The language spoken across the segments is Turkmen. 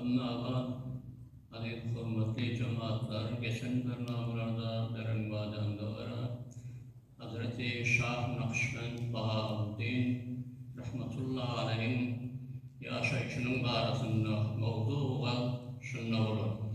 Annaabat, Halyl hormatly jemaatlar geçen bir namalarda beren wadaňda görä Hazreti Şah Nakşbend Bahaoddin Rahmatulla Aleýiň ýaşaýşynyň barasynda mowzu-waz şunda bolardy.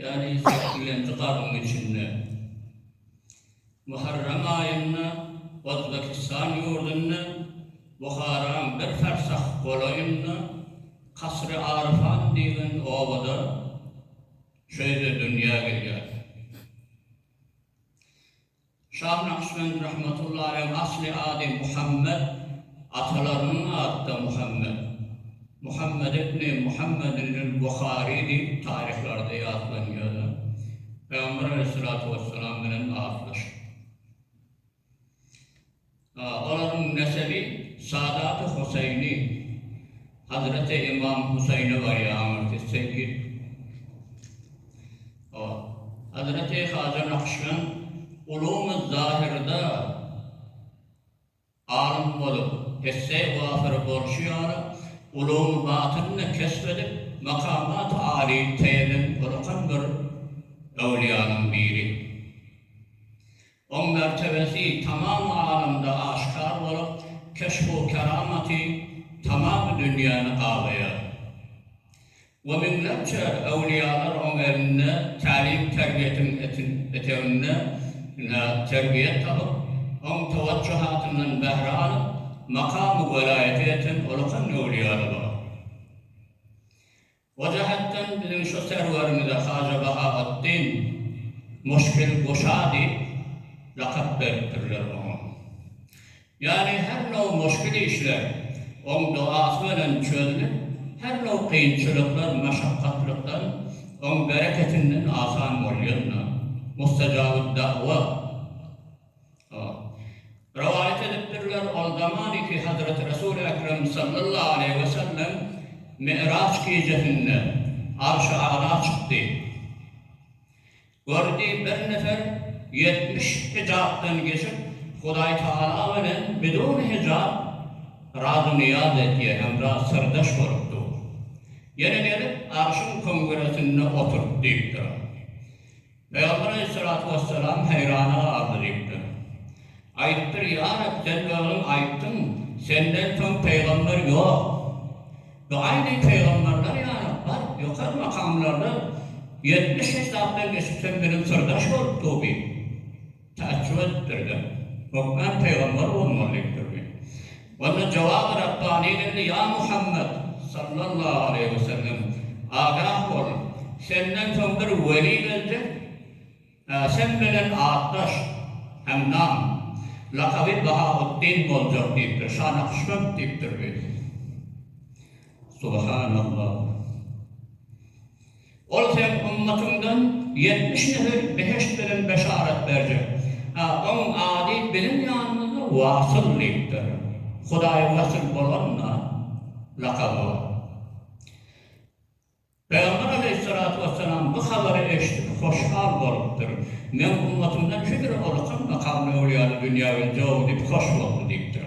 Ýaly sökgülendi gabyň içinde. Muharram aýynda Ozbekistan ýurdunda Buharaň bir farsah golaýynda Kasr-i Arfan diýlen obada şeýle dünýä gelýär. Şah Nakşbend rahmetullahi aleyh asly ady Muhammet. Atalarynyň ady-da Muhammet. Muhammet ibni Muhammedinül Buhari diýip taryhlarda ýatlanýar-da. Pygamber aleyhissalatu wessalam bilen atlyşypdyr. Olaryň nesebi Sadat-y Husaýni, Hazreti Ymam Husaýne barýar, aňyrsy Seýit. Hazreti Haja Nakşbend Ulum-y-Zahyrda alym bolup, esse-i wasyr bolşy ýaly, Ulum-y-Batyny-da kesp edip, makamat-y alyny teýelen ullakan bir öwlüýäniň biri. Oň mertebesi tamam alamda aşkar bolup, keşbu keramaty tamamy dünýäni gabaýar. We müňlerçe öwliýalar oň elinde tälim-terbiýetiň eteginde terbiýe tapyp, oň tewajjuhatyndan bähre alyp, makamy welaýata ýeten ulakan öwliýalar bar. O jähetden biziň şu serwerimize Haja Bahaweddin, Muşkil guşa diýip lakap beripdirler oňa. Ýagny her now muşkil işler oň dogasy bilen çözlüp, her now kynçylyklar, maşakgatlykdan oň bereketinden asan bolýan-da, Mustajabud-da'wa. Rowaýat edipdirler, ol zamany ki Hazreti Resul-i Ekrem sallallahu aleýhi we sellem Mi'raç gijesinde Arşy Ala çykdy. Gördi, bir nefer ýetmiş hijapdan geçip, Hudaý Tagala bilen bidun hijap razy-nyýaz edýär, hemra syrdaş bolup dur. Ýene gelip, Arşyň köňgüresinde oturyp diýipdir. Pygamber aleýhissalatu wessalam heýrana galdy diýipdir. Aýdypdyr, Ýa Reb, Sen özüň aýtdyň, Senden soň pygamber ýok. Bu aýdy pygamberler ýaly bar ýokary makamlarda ýetmiş hesapdan geçip sen biziň syrdaş bolup dur diýip. Taaçjup edipdir-de, Hökman pygamber bolmaly diýip durdy. Onda jogaby Rabbani geldi, Ýa Muhammet, sallallahu aleýhi we sellem, agah bol, senden soň bir weli geljek, ä sen bilen atdaş, hem nam, lakaby Bahautdin boljak diýipdir, Şa Nakşbend diýip durdy. Subhanallah! Ol seniň ummatyňdan ýetmiş nesil behişt bilen beşarat berjek. A onuň ady biziň ýanymyzda Wasyl diýipdir. Hudaýy Wasyl bolanda, lakaby bar. Pygamber aleýhissalatu wessalam bu habary eşidip hoşhal bolupdyr. Meň ummatymdan Hidri Olukhan makably öwlýany dünýä indi-ow diýip hoş boldy diýipdir.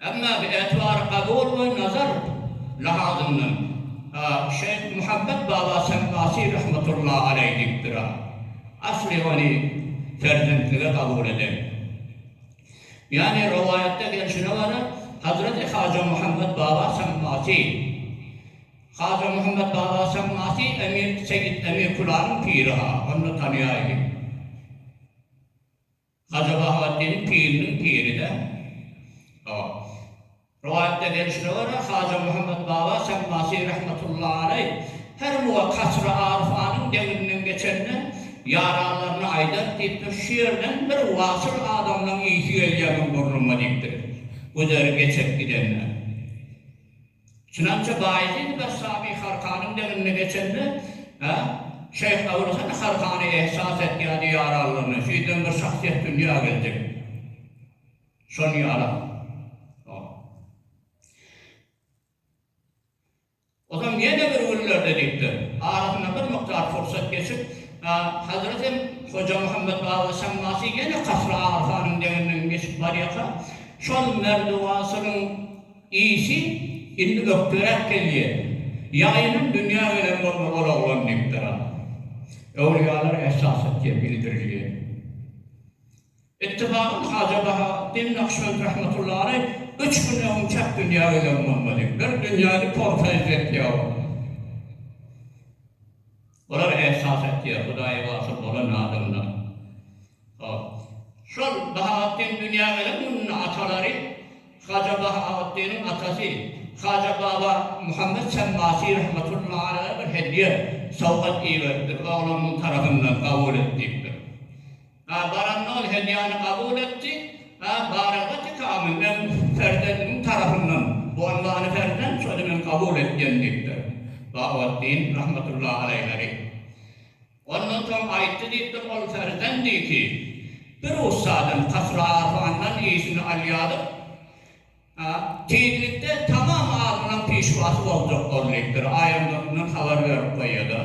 Emma bi etibary kabul we nazar lahazyndan Şeýh Muhammet Baba Sempasi rahmetullahi aleý diýipdir-a. Asly ony perzentlige kabul eden. Ýagny rowaýatda gelşine görä Hazreti Haja Muhammet Baba Sempasi, Haja Muhammet Baba Sempasi Emir Seýit Emir Kulanyň piri-ha, onda tanaýaýyň. Hajabahatdiniň piriniň piri dä ol. Rowaýatda gelşine görä, Haja Muhammet Baba Sammasi rahmetullahi aleýh her muga Kasry Arfanyň deňinden geçende ýaranlaryna aýdar diýipdir, Şu ýerden bir wasyl adamlaň ýiti gelýär muň burnuma diýipdir, güzeri geçip gidende. Çynança Baýezidi Bessami Harkanyň deňinde geçende, şeýh Abul Hasan Harkany ehsas etýärdi ýaranlygyny, şeýdibem bir şahsyýet dünýä geljek. Şony ýarap. Ozam ýene bir günlerde diýipdir, arasyndan bir mukdar pursat geçip, Hazreti Hoja Muhammet Baba Şammasy ýene Kasra Arfanyň deňinden geçip barýarka, şol merdiwasynyň Işi indi ökderäk gelýär. Ýaýynam dünýä gelen boldy ol oglan diýipdir a. Öwlüýalar esasy diýe bildirilýär. Ittifagyň Haja Bahaweddin Nakşbend rahmetullahy aleý üç gün öňünçäk dünýä gelen bolmaly. Bir dünýäni porsa izletýär ol. Bular ähsas etýär, Hudaýa wasyl bolan adamlar. Hop. Şol Bahaweddin dünýä gelen gününde atalary Haja Bahaweddiniň atasy Haja Baba Muhammet Semmasi rahmetullahi aleyhe bir hedýe, sowgat iberipdir, oglunyň tarapyndan kabul et diýipdir. A baranda ol hedýäni kabul etdi. A baranda Tikamy men perzendimiň tarapyndan Bonbany perzent şony men kabul etýän diýipdir. Bahatdin rahmetullahi aleýheri. Ondan soň aýtdy diýipdir, ol perzend iki bir ussadan, Kasra-Arfandan işini alýadyk. A. Tizlikde tamam azynyň pişwasy boljak boldypdyr, aýangyzyndan habar berip goýýada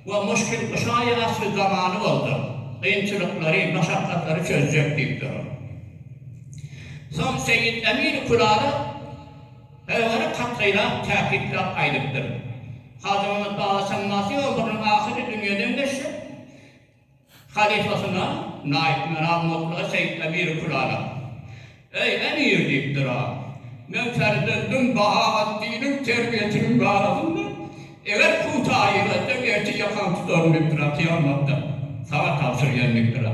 we muşkilkuşa ýaşly zamany boljak, kynçylyklary, maşakgatlary çözjek diýipdir. Soň Seýit Emir Kürala Pygamberi kat-gaýrat täkitläp aýdypdyr. Hajymyrat Baba Şemmasy ömrüniň ahyry dünýeden geçjek. Halypasyna Naýyp Meral mokla Seýit Emiri Külala, Eý, emir! diýipdir-ä. Men ferzendim Bahaweddiniň terbiýesiniň barasynda, eger puta ýylasaň, ertir ýakaňy tutaryn diýipdir-ä, kyýamatda saňa tabşyrýan diýipdir-ä.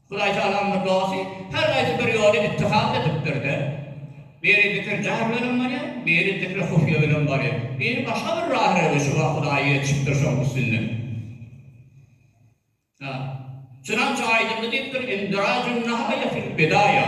Hudaýtalamyzyň dosty her haýsy bir ýoly ittihat edipdir-de. Biri zikir-jahr bilen barýar, biri zikri-hufýe bilen barýar, biri başga bir rah-rewişi-wa Hudaýa ýetişipdir şonuň üstünden. A. Çynança aýdyldy diýipdir, Indirajun-nahaýa fil-bidaýa.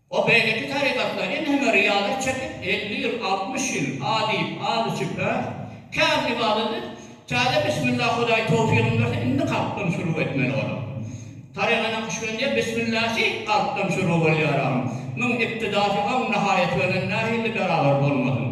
O beýleki tarykatlar indi hem riýalar çekip, elli ýyl, altmyş ýyl a diýip, az içip, ä, kän ybadaty täze bismillah Hudaý towfygyny berse, indi kalpdan şuruw etmeli bolar. Taryga Nakşbendiýe bismillasy kalpdan şuruw bolýar, agam. Muň ibtidasy oň nahaýaty bilen nähili beraber bolmasyn.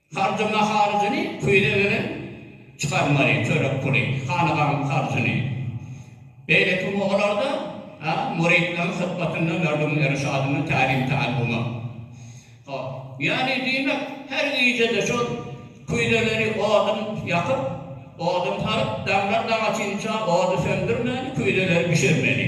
Harjama harjyny küýze beren çykarmaly çörek puly, hanagaň harjyny. Beýleki gün olarda müritleriň hyzmatynda Merdugyň Erşadyna tälim-täalluma. Hop. Ýagny diýmek, her gije-de şol küýzeleri odun ýakyp, odun salyp, daňdan daňa çençä ody söndürmäni, küýzeleri bişirmeli.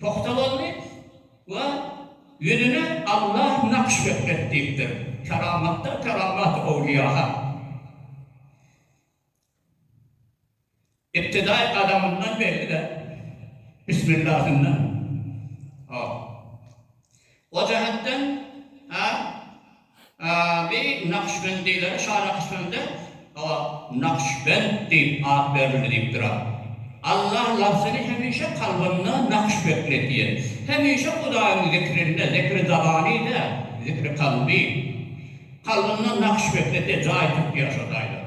Pugta boldy we ýüzüne Allah nakş etmek diýipdir. Keramatdan keramat owliýaha. Ibtidaý gadamyndan belli-de, bismillahyndan. Hop. O jähetden hem bi nakşbendilere Şanakşbende hawa Nakşbend diýip at berildi diýip durar. Allah labzyny hemişe kalbynda nakş beklet diýen. Hemişe Hudaýyň zikrinde, zikri zabany däl, zikri kalby. Kalbynda nakş beklet diýen jaý tutýar şo taýdan.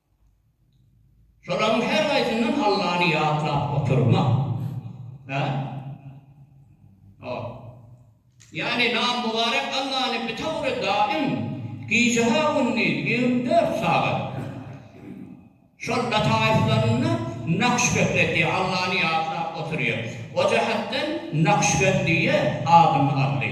Şolaryň her haýsyndan Allany ýatlap oturmak. Hä? Hop. Ýagny nam mübarek Allany bitew we daim, gije-ha-gündiz ýigrimi dört sagat şol lataýyflarynda Nakşbek edýär, Allany ýatlap oturýar. O jähetden Nakşbendiýe adyny aldy.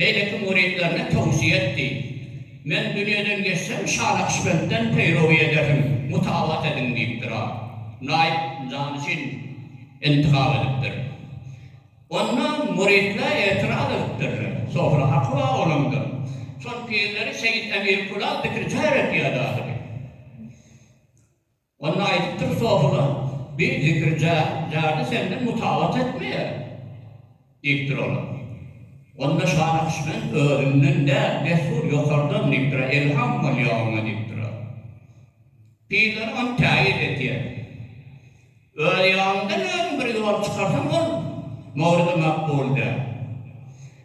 Beýleki müritlerine towsiýe etdi. Men dünýeden geçsem, Şa Nakşbendden peýrowy edersiň, mutabat ediň diýipdir. A. Naýyp jany üçin intihap edipdir. Onda müritler etiraz edipdirler. Sofra haky bar olaňda. Şol pirleri Seýit Emir Kulal dikriçär etýärdi ahyry. Onda aýdypdyr Sofyla, Bir zikirja, jady senden mutabat etmeýär, diýipdir ola. Onda şa Nakşbend, Özüňden däl, dessur ýokardan, diýipdir, Elham bolýa oňa, diýipdir. Pirler ony täýir edýär. Öz ýalyňdan özüň bir ýol çykarsaň, ol mowridi makbul däl.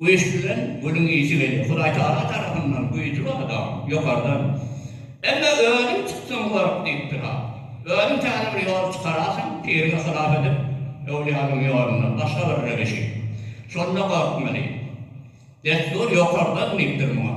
Güýç bilen gülüň ysy gelýär. Hudaýtagala tarapyndan güýji bar dagyň, ýokardan. Emme özüň çyksaň görk diýipdir ha. Özüň täze bir ýol çykarasyň, piriňi hylap edip, öwlýanyň ýolundan, başga bir röwüşi. Şonda gorkmeli. Dessur ýokardan diýipdir muňa.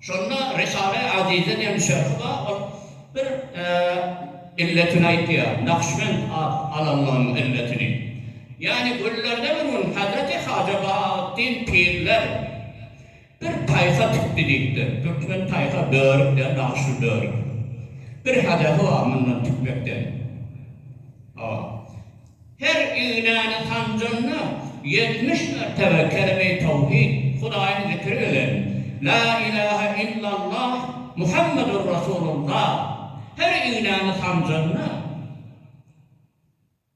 Şonda Risale-i Azize diýen şerhi bar, ol bir illetini aýtýar, Nakşbend at alanlygynyň illetini. Ýagny günlerde bir gün Hazreti Haja Bahautdin pirler bir taýha tikdi diýipdir. Türkmen taýha börük däl, nagşly börük. Bir hedefi bar mundan tikmekden. Hawa. Her ignäni sanjanda, ýetmiş mertebe kelime-i tawhid, Hudaýyň zikri bilen, La ilahe illallah Muhammedur Rasulullah, her ignäni sanjanda,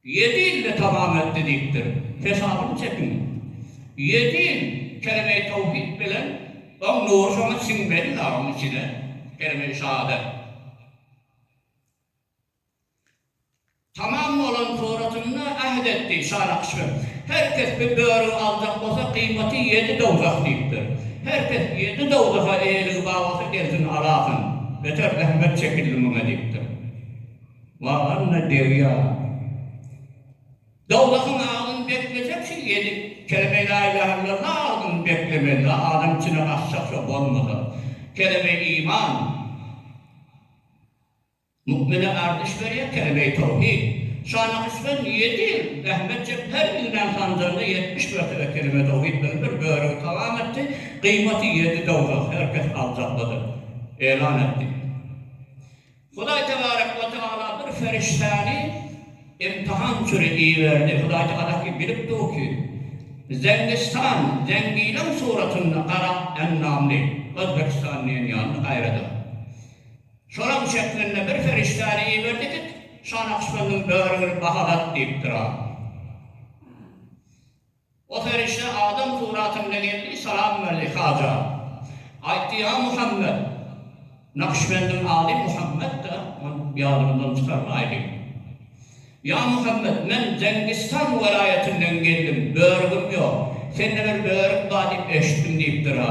Ýedi ýylda tamam etdi diýipdir. Hesabyny çekiň. Ýedi ýyl kelime-i tawhid bilen oň nury şoňa siňmeli-la oň içine, kelime-i şahadat. Tamam bolan suratynda äht etdi, Şanakşy. Her kes bir börüň aljak bolsa, gyýmaty ýedi dowzah diýipdir. Her kes ýedi dowzaha eýeligi bar bolsa, gelsin, alasyn. Beter zähmet çekildi muňa diýipdir. Wah, anna derýa! Dowzahyň agzyny beklejek şu ýedi kelemeý laýlahellalah agzyny beklemeli-le, adam içine gaçjak şo bolmasa. Keleme iman. Mukmine arzyş berýär kelime-i tawhid. Şa Nakşybend ýedi ýyl zähmet çekdi, her düwnen sanjanda ýetmiş mertebe kelime-i tawhid bilen bir börügi tamam etdi, gyýmaty ýedi dowzah, her kes aljaklydyr. Elan etdi. Hudaý tebarek we teala bir ferişdäni imtihan üçin iberdi. Hudaý teala ki bilip dur ki, Zengistan, Zengileň suratynda gara ennamly, Özbegistan diýen ýaly gaýradyr. Şolaň çekmende bir perişdäni iberdidik, Şa Nakşbendiniň börügini bahalat diýipdir adama. O perişde adam suratynda geldi, salam berdi, Haja! Aýtdy, Ýa Muhammet! Nakşbendiň ady Muhammet-de, ony ýadyňyzdan çykarmaýlyň. Ýa Muhammet, men Zengistan welaýatyndan geldim, börügim ýok. Sende bir börük bar diýip eşitdim diýipdir-ä.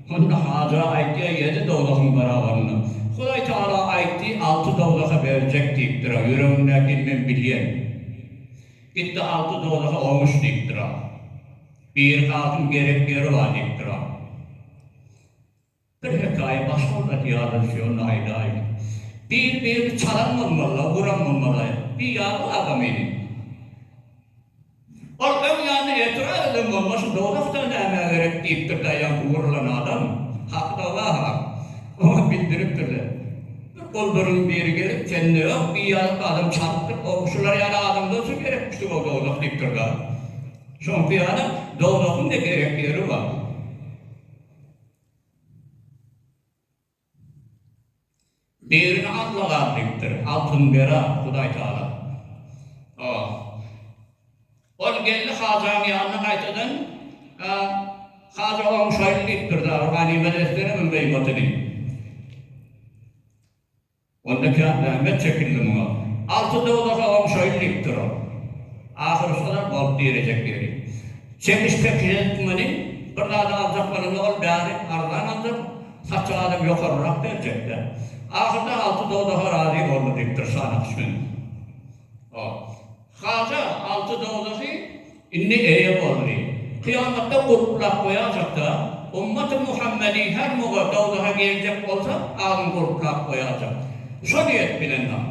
Hut Hajyra aýtýar, ýedi dowzahyň barabarynda. Hudaý Tagala aýtdy, alty dowzahy berjek diýipdir-ä, ýüregiňdäkini men bilýän. Git-de alty dowzahy oňuş diýipdir-ä. Birki altyn gerek ýeri bar diýipdir-ä. Bir hekaýa başga bir zat ýadyny şonda aýdaýyn. Bir birini çalan bolmaly-la, uran bolmaly-la. Bir ýalňyz adam idi. Ol öň ýany etirap eden bolma şu dowzahdan nämä gerek diýipdir da ýaňky wurlan adam hakyda waha oňa bildiripdirler. Bir gulduryn biri gelip sende ýok diý ýalyk adam çalypdyr ogy şular ýaly adam bolsa gerekmişdi gow dowzah diýipdir da şoňky ýaly dowzahyň da gerek ýeri bar. Birini alma gaz diýipdir. Altyn bera, Hudaý Taala. Oh. Ol geldi Hajam ýanyna gaýtadan. Haja oň şaýly diýipdir, Zaur ganymat etseňem, beýgoty diýip. Onda kän zähmet çekildi muňa. Alty dowzaha oň şoýl diýip durun. Ahyry şolar bolup direjek ýeri. Çekiş-pekiş etmeli. Bir zady aljak bolanda ol bäri arzan aljak. Satjak adam ýokarrak berjek-dä. Ahyrda alty dowzaha razy boldy diýip dur şanakyş meniň. O. Haja, alty dowzahy indi eýe boldy. Kyýamatda gulplap goýajak-da, ümmaty Muhammediň her mugy dowzaha geljek bolsa, agzyny gulplap goýajak. Şo niýet bilenam.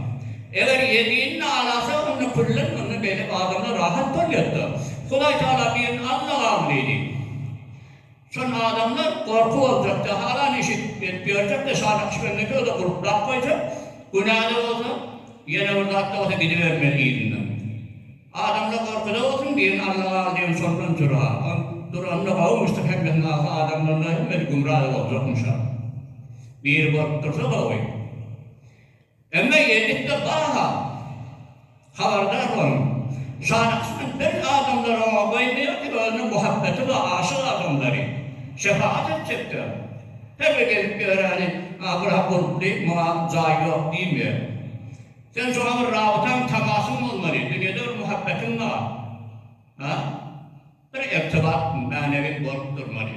Eger Ýezinini alasa, onda küllen onda beýle adamlar rahat bolýar-da. Hudaýtagala birini allag al diýdi. Şonda adamlar gorky boljak, jahalan iş edip ýörjek, şa Nakşbendiki özi gulplap goýjak, günä-de bolsa, ýene bir zat-da bolsa gidibermeli yzyndan. Adamlar gorkuda bolsun, birini Allaga al diýen soldan jürha. Ol duranda gowy muşduk hemmesini alsa adamlar-da hemmesi gümra-da boljakmyş-a. Biri gorkup dursa gowy. Emma elbetde bara habardar boluň. Şana kysmet berk adamlar oňa goýmaýar ki özüne muhabbeti bar aşyk adamlary şefagat etjekler. Her bir gelip ýöreni a bura gulply muňa jaý ýok diýmeýär. Sen şoňa bir rabytaň tamasyň bolmaly dünýede bir muhabbetiň bar a bir irtibat mänewiň bolup durmaly.